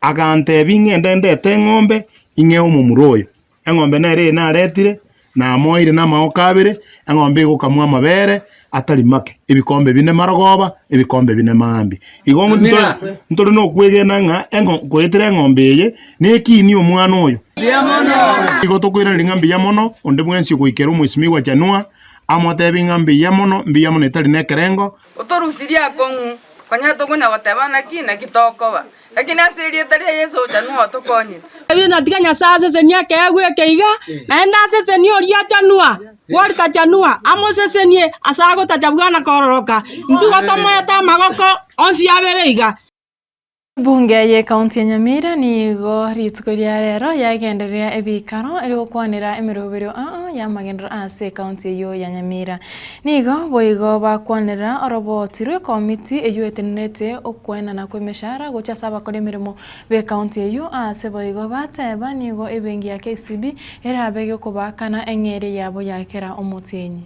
Aganteebia, Inge ndendete eng'ombe ing'e y'omomura oyo. Eng'ombe nere eye naretire, namoeire namaoka abere, eng'ombe egokamwa amabere atari make, ebikombe bine marogoba, ebikombe bine mambia. Igo nto- ntore nokwegena ng'a eng'o- ngoetera eng'ombe eye nekiini omwana oyo. Igo tokoiraneria ng'a mbuya mono, onde bwensi ogoikera omoisimigwa January, amoteebie ng'a mbuya mono, mbuya mono etari nekerengo. Otorusirie akong'u, konya tokonya goteba naki naki tokoba, lakini ase erieta ria Yeso ochanwa otokonye. Daudi natiga Nyasae asesenie ekeegwa eke iga, naende asesenie oria ochanwa gwori tachanwa, amosesenie ase agotacha buna kororoka. Intwe igo tomoete amagoko onsi abere iga. Ebunge ye County ya Nyamira nigo rituko ria rero yagenderera ebikaro ere gokwanera emeroberio aa y'amagenderero aase ecounty eyio ya Nyamira. Nigo boigo bakwanera orobooti rw'ekomiti eyio etenerete okwenana kw'emeshara gochia ase abakora emeremo b'ecounty eyio aase boigo bateba nigo ebengi ya KCB erabe egekobaakana eng'eria yabo ya kera omotienyi.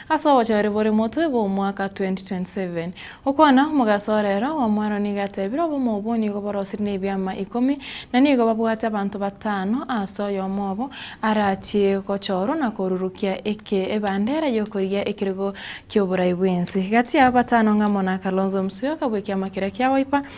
Ase obochore bore motwe bw'omwaka 2027. Gokwana omogaso ore ero bw'omwando nigo atebire obomo obwo nigo borosire nebiama ikomi, na nigo babwate abanto batano ase oyomo obo arachie gochorwa na korurukia eke ebandera y'okorigia ekerogo ki'oborai bw'ense. Gati y'aba batano ng'amo na Kalonzo Musyoka bw'ekiama keria kia Wiper,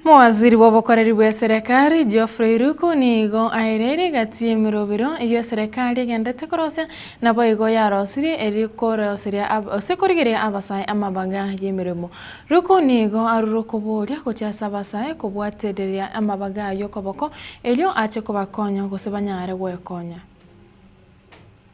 Mowaziri bw'obokoreri bw'eserekari, Geoffrey Ruku, nigo aereirie gati y'emerobero eyio eserekari egenderete korosia, naboigo yarosirie erio koroseria gose korigereria abasae amabaga y'emeremo. Ruku nigo arure okobooria gochia ase abasae kobwatereria amabaga ayio okoboko erio ache kobakonya gose banyare gwekonya.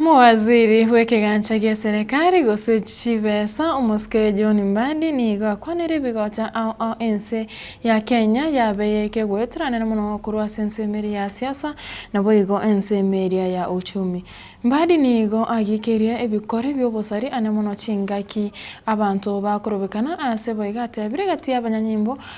Omowaziri bw'ekegancha gia Serekari gose chibesa omosike John Mbadi nigo akwanire ebigocha ao ao ense ya Kenya yabe y'ekegoeteranera mono korwa ase ensemo eria ya siasa naboigo ensemo eria ya uchumi. Mbadi nigo agikirie ebikore bi'obosari ane mono chingaki abanto bakorobekana ase boigo atebire gati y'abanyanyimbo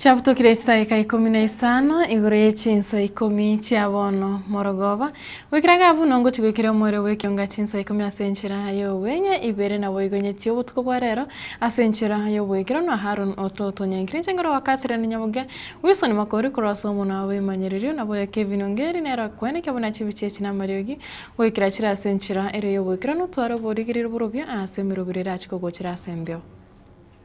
Chiabutokire chidaeka ikomi na isano igoro ye chinsa ikomi chia bono morogoba, goikera ga buna ongochia goikera omoerio bw'ekionga chinsa ikomi ase enchera y'obweng'e ibere naboigo nyetie obotuko bwa reero ase enchera y'oboikeranu Aharoni ototonyankire chinguru wakatire na nyabogia Wilson Makori korwa ase omonwa wa boimanyererio na boyokia ebinunga eri nero akwenekia buna chibichi echi namariogi goikera chire ase enchera ere y'oboikeranu tware oborigererio borobio aase emerobera erachie kogochera ase embeo.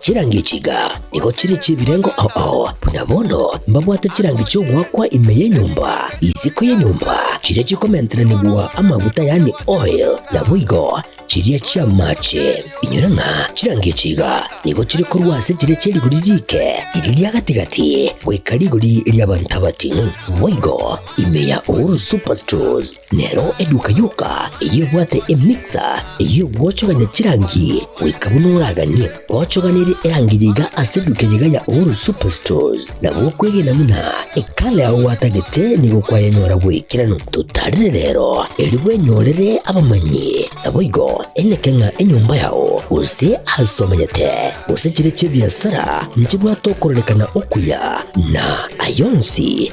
Chirangi chiga nigo chire chi'ebirengo ao ao, buna bono mbabwate chirangi chi'ogoakwa ime y'enyomba, isiko y'enyomba, chiria chikomenteranigwa amaguta yaani oil, naboigo chiria chi'amaache. Inyora ng'a chirangi chiga nigo chire korwa ase chiria chia rigori riike riria ria gati-gati goika rigori ria Bantabati, boigo ime ya Uhuru Superstores. Nero eduka yoka eyebwate emiksa eyio gwochogania chirangi goika buna oraganie gochoganirie erangi yaiga ase eduka eyaiga ya Uhuru Superstores. Na gokwegena buna ekala yao gwatagete nigo kwayanyora bw'ekerano totarire rero, erio bwenyorere abamanyi, naboigo eneke ng'a enyomba yao, gose aase omanyete, gose chire chi'ebiasara nchibwate okorerekana okuya, na ayio onsi,